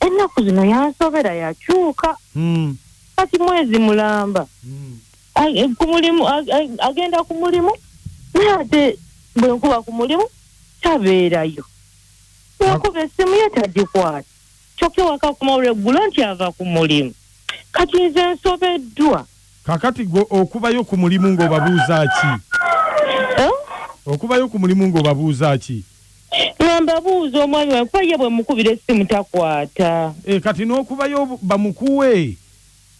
ennaku zino yansobera yakyuka Mm. kati mwezi mulamba Mm. A- e, ku mulimu a- a- agenda ku mulimu naye ate bwe nkuba ku mulimu tabeerayo bwenkuba essimu ye tagikwata kyokka wakakuma olweggulo nti ava ku mulimu kati nze nsobeddwa Kakati gwe okubayo ku mulimu ng'obabuuza ki? Eh? Okubayo ku mulimu ng'obabuuza ki? Nga mbabuuza omwami wange kuba ye bwe mukubira essimu takwata. Eh, kati n'okubayo bamukuwe?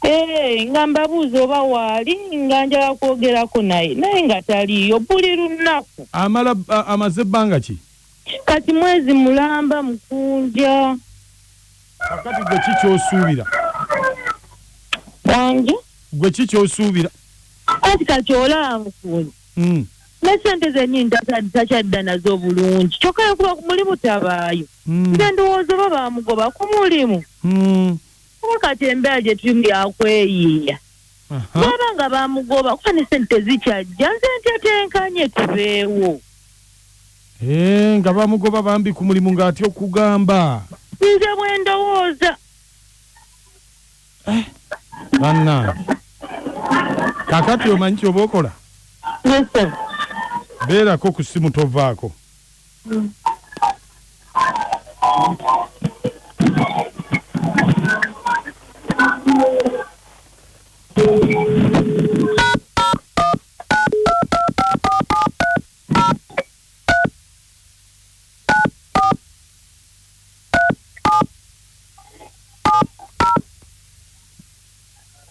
Eh, nga mbabuuza oba waali nga njala kwogerako naye naye nga taliiyo buli lunaku. Amala amaze bbanga ki? kati mwezi mulamba mukunja kakati gwe ki kyosuubira bangi gwe ki kyosuubira kati kati olaba mukunja hmm. ne sente zenyini takyadda nazo obulungi kyokka yokuba ku mulimu tabaayo hmm. nze ndowooza oba bamugoba ku mulimu hmm. kuba kati embeera gye tulimu yakweyiiya baba nga bamugoba kuba ne sente tezikyajja nze ntetenkanye tubeewo Eh, nga bamugoba bambi ku mulimu ng'atya okugamba nze bwe ndowooza bannange kakati omanyi kyoba okola yese beerako ku ssimu tovaako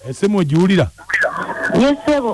esimu ogiwulira yesebo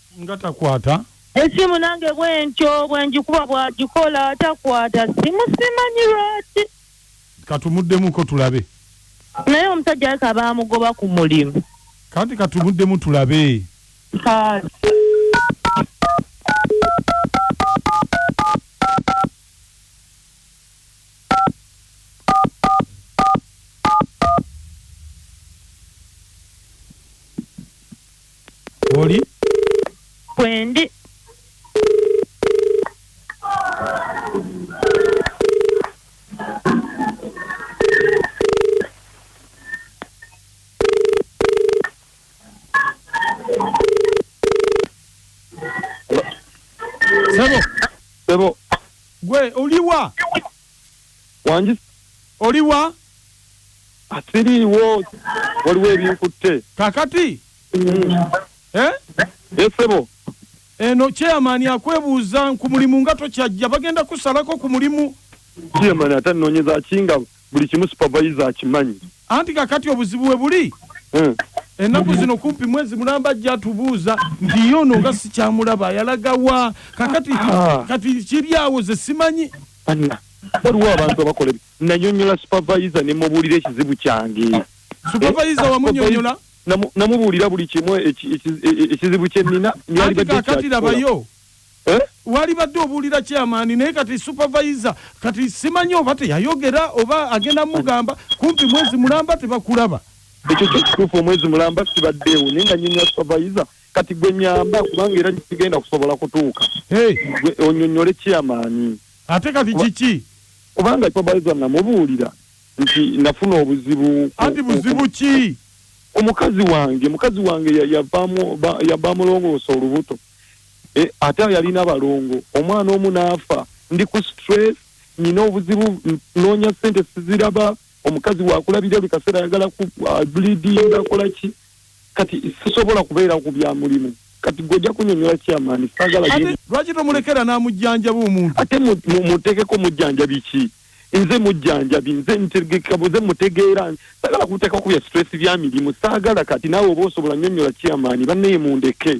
nga takwata esimu nange bwentyo bwenjikuba bwagikola takwata simu simanyi lwaki katumuddemuko tulabe naye omusajja aleka bamugoba ku mulimu kati katumuddemu tulabe oli kwendi sebo sebo gwe oliwa wangi oliwa asiriiwo waliwo ebinkutte kakati eh? esebo eno chairman akwebuuza ku mulimu nga tokyajja bagenda kusalako ku mulimu chairman ate anonyeza ki nga buli kimu supervisor akimanyi anti kakati obuzibu we buli hmm. ennaku zino kumpi mwezi mulamba ajja atubuuza nti ye ono nga sikyamulaba yalaga wa kakati ah. kati kiri awo ze simanyi waliwo abantu abakola nanyonyola supavayiza ne mubuulira ekizibu kyange supavayiza wamunyonyola namubuulira buli kimu e- e- e- ekizibu kyenina kakati labayo Eh? walibadde obuulira kyamaani naye kati supervisor kati simanyi oba teyayogera oba agenda mugamba kumpi mwezi mulamba tebakulaba ekyo kyekituufu omwezi mulamba sibaddeewo naye nga nyenya supervisor kati gwe nyamba kubanga era kigenda kusobola kutuuka onyonyole kyamaani ate kati kiki kubanga supervisor namubuulira nti nafuna obuzibu anti buzibu ki omukazi wange mukazi wange yavamulongoosa olubuto eh, ate yalina balongo omwana omu n'afa ndi ku stress nina obuzibu noonya sente siziraba omukazi wakulabira buli kaseera ayagala ku uh, bleeding akola ki kati sisobola kubeera ku bya mulimu kati gwe ojja kunyonyola kyamaani sagala lwaki tomulekera n'amujjanjaba omuntu ate muteekeko mujjanjabi ki nze mujjanjabi nze ntegekabuze mutegeera sagala kuteekako bya stress bya mirimu saagala kati naawe oba osobola nyonyola kyamaani bannaye mundeke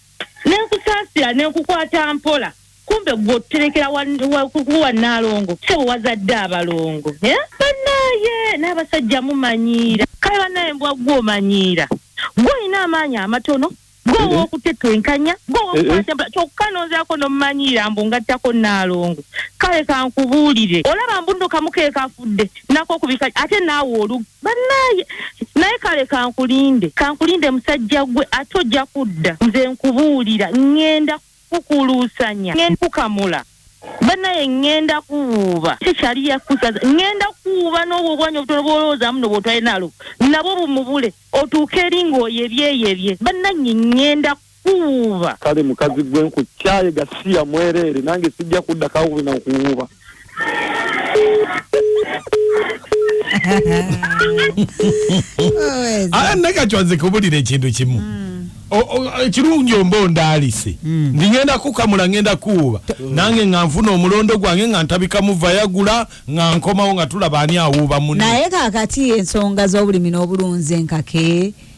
nenkusaasira nenkukwata mpola kumbe gwe otuterekera kukuwa nalongo sebo wazadde abalongo eh? banaye n'abasajja mumanyiira kale banaye mbwa gwe omanyiira gwe olina amaanyi amatono gwe eh, eh. owokutetwenkanya gwe owokukwata mpola kyokka nonzirako nomumanyiira mbu ngattako nalongo kale kankubuulire olaba mbuno kamukeekafudde nakokubika ate naawe olu banaye naye kale kankulinde kankulinde musajja gwe ate ojja kudda nze nkubuulira ŋŋenda kukuluusanya ŋŋenda kukamula banaye ŋŋenda kuwuuba tekyali yakusaza ŋŋenda kuwuuba n'obwo obwanya obutono bw'olowoozaamu no bwotwali nalo nabwo bumubule otuuke eri ng'oyo ebyeyebye banange ŋŋenda kuwuuba kale mukazi gwe nkukyaye gasiya mwereere nange sijja kudda kawubi na kuwuuba ala nakatwa nze kubulira ekintu kimu hmm. ekirungi omba ondaalise hmm. ndi ngenda kukamula ngenda kuwuuba hmm. nange nga nfuna omulondo gwange nga ntabika muvayagula nga nkomawo nga tulaba ani awuuba munaye kakati ensonga z'obulimi n'obulunzi enkake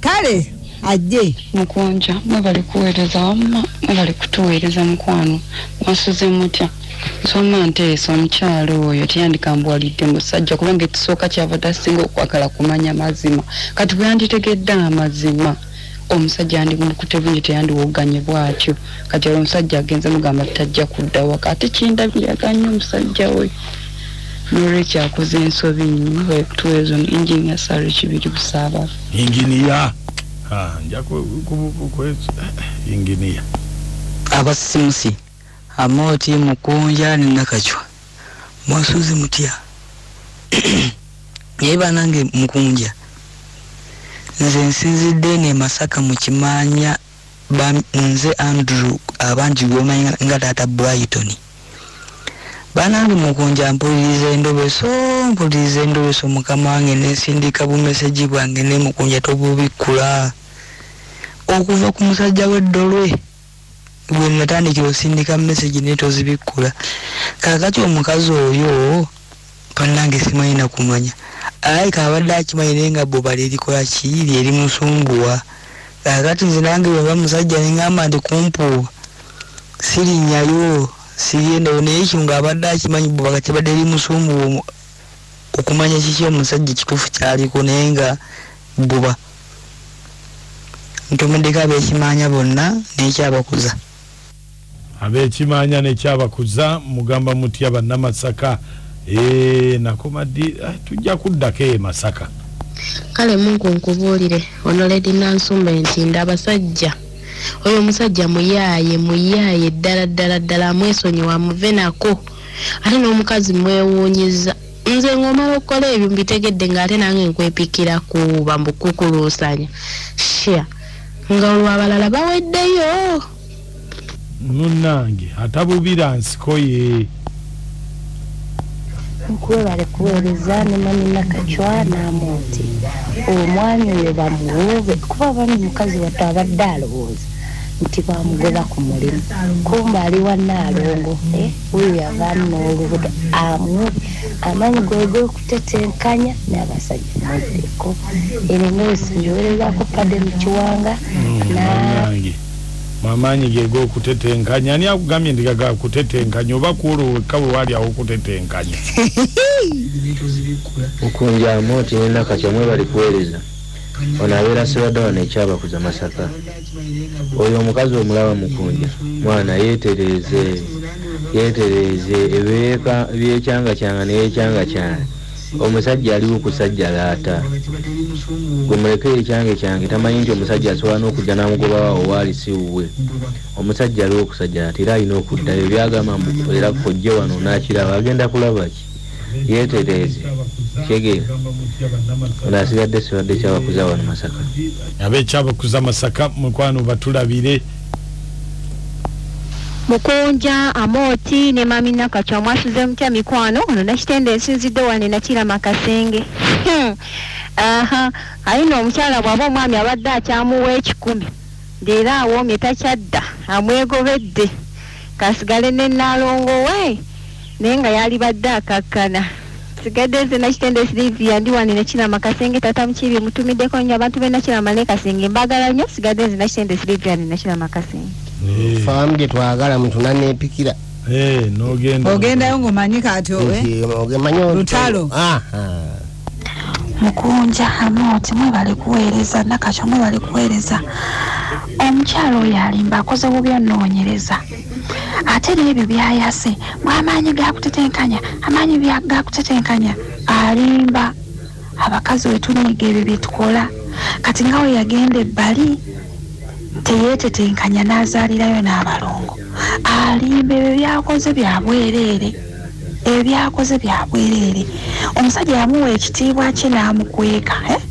kale ajje mukunja mwebale kuweereza wamma mwebale kutuweereza mukwano mwasuze mutya nsoma nteesa omukyalo oyo teyandikambwalidde musajja kubanga ekisooka kyava tasinga okwagala kumanya mazima kati bweyanditegedde amazima omusajja yandimukute bungi teyandiwoganye bwatyo kati olwo omusajja agenze mugamba tajja kudda waka ate kindabiraga nnyo omusajja oyo nolwekyo akoze ensobi nyo tuwezo engineer sari kibiri busaba engineer ha nja kubukwezi engineer abasimusi amoti mukunja ni nakachwa mwasuzi mutia yeba nange mukunja nze nsinzidde ne masaka mukimanya Bambi nze Andrew abangi gwomanyi nga taata Brighton. Banange mukunja mpuliriza endobeso mpuliriza endobeso mukama wange nensindika bumeseji bwange ne mukunja tobubikkula okuva ku musajja w'eddolwe gwe natandikira osindika meseji naye tozibikkula kakati omukazi oyo Banange simanyi nakumanya alabika abadde akimanyi naye nga bwoba lyerikola ki lyerimusumbuwa kakati nze nange bweba musajja nengamba nti kumpuuba sirinyayo sigendayo naye ekyo nga abadde akimanyi bwoba kati badde limusumbuwa omu- okumanya kiki omusajja ekituufu kyaliko naye nga bwoba ntomeddeko abekimaanya bonna nekyabakuza Abekimanya ne kyabakuza mugamba mutya bannamasaka ee eh, nakoma ddi eh, tujja kuddako e masaka kale mungu nkubuulire ono ledi nansumba nti nda abasajja oyo omusajja muyaaye muyaaye ddala ddala ddala amwesonyiwa amuve nako ate n'omukazi mwewuunyiza nze ng'omala okukola ebyo mbitegedde ng'ate nange nkwepikira kuuba mbukukuluusanya shia nga olwo abalala baweddeyo munange atabubira nsiko ye nkwebale kuweereza ne mami nakacwa n'amonti omwami oyo bamuwoobe kuba abami mukazi wattu abadde alowooza nti bamugoba ku mulimu kumba ali wa naalongo eh, oyo yavaamu n'olubuto amuwe amaanyi gwe g'okutetenkanya n'abasajja muddeko era nga wesanjuwerezaako padde mu kiwanga na munange amaanyi ge g'okutetenkanya ani akugambye nti gaga kutetenkanya oba kuolo wekka we waali awo okutetenkanya okunjamu nti nina katya mwe bali kuweereza ono abeera sibadde wano ekyabakuza masaka oyo omukazi omulaba mukunja mwana yeetereeze yeetereeze ebyeka byekyanga kyanga neyekyanga kyanga omusajja aliwo kusajja laata gwe muleke ekyange kyange tamanyi nti omusajja asobola n'okujja n'amugobawa owaali si wuwe omusajja aliwo okusajja laata era alina okuddayo byagamba era kojje wano n'akiraba agenda kulaba ki yeetereeze kyegeera ono asigadde sibadde kyabakuza wano masaka ab'ekyabakuza masaka mukwano batulabire mukunja amooti ne mami nakacwa mwasuze mutya mikwano ono nakitende nsinzidde wane nakira makasenge hmm. aha aye no omukyala bwaba omwami abadde akyamuwa ekikumi leero awoomye takyadda amwegobedde kasigale ne naalongo we naye nga yalibadde akakkana sigadde nze nakitende silivia ndi wani nekirama kasenge tata mukibi mutumiddeko nnyo abantu benakirama ne kasenge mbagala nnyo sigadde nze nakitende silivia ndi nakirama kasenge eh. faamu gye twagala mutuna nepikira eh, ogendayo ngaomanyi kati owe eh? lutalo ah, ah. mukunja amooti mwebale kuweereza nakakyo mwebale kuweereza omukyalo oyo alimba akoze bubi onoonyereza ate n'ebyo byayase mwamaanyi gakutetenkanya amaanyi gakutetenkanya alimba abakazi wetunyiga ebyo byetukola kati nga we yagenda ebbali teyeetetenkanya n'azaalirayo n'abalongo alimba ebyo byakoze byabwereere ebyakoze byabwereere omusajja yamuwa ekitiibwa kye n'amukweka eh?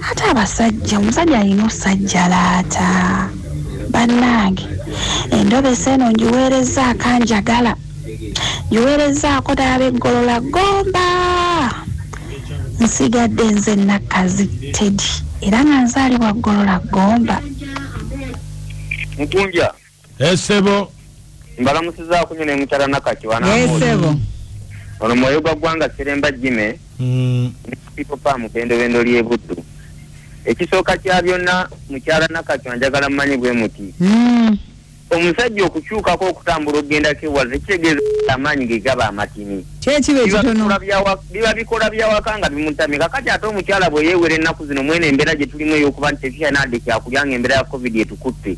ate abasajja omusajja alina osajja laata bannange endobesa eno ngiweerezza akanjagala ngiweerezzaako dala beggolola gomba nsigadde nze nakkazi tedi era nga nzaalibwa ggolola gomba mukunja esebo eh, mbalamusizaako nyo ne mukyala nakati wanaesebo eh, ono mwoyo gwa ggwanga seremba jime mm. nekupipopa mubendobendo lyebuddu ekisooka kya byonna mukyala nakati wanjagala mumanyi bwe muti mm. omusajja okukyukako okutambula okugendako ewaza ekitegeeza amaanyi ge gaba amatini biba bikola byawaka nga bimutamye kakati ate omukyala bwe yeewera ennaku zino mwene embeera gye tulimu ey'okuba nti tekiyanadde kyakulya nga embeera ya covid etukutte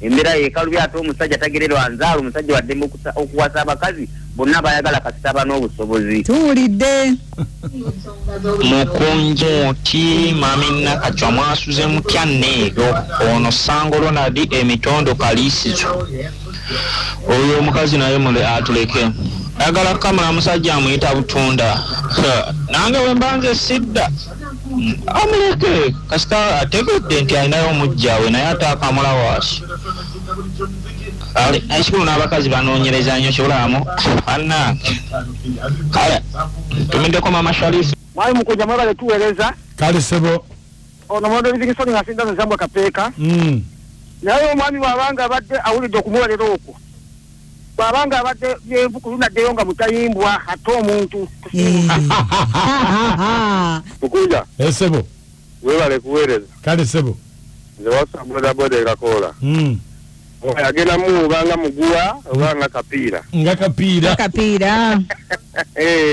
Embera yekalubye ate omusajja tagererwa nzaala omusajja waddembe okuwasa abakazi bonna bayagala kasitaba n'obusobozi tuwulidde mukunja oti mami nakacwa mwasuze mutya neero ono sango ronaldi emitondo kaliisizo oyo omukazi naye mule atuleke ayagala kamala musajja amuyita butunda nange wembanze sidda amuleke kasita ategedde nti alinayo omujjawe naye ate akamulawaasi ekikulu n'abakazi banoonyereza nyo kyolamu anange kale tumiddeko mama sharifu mwali mukuja mwebale tuwereza kale sebo ono mwondo livingsoni ngasinda nozambwa kapeeka mm. naye omwami wabanga abadde awulidde okumuwerera okwo bwaba nga abadde yenvu ku lunaddeyo nga mutayimbwa ate omuntu mukunja eh, sebo webale kuweereza kale sebo nze wasa bodaboda ekakoola hmm. agenda muwuba nga muguwa oba nga kapiira nga kapiira kapiira eh.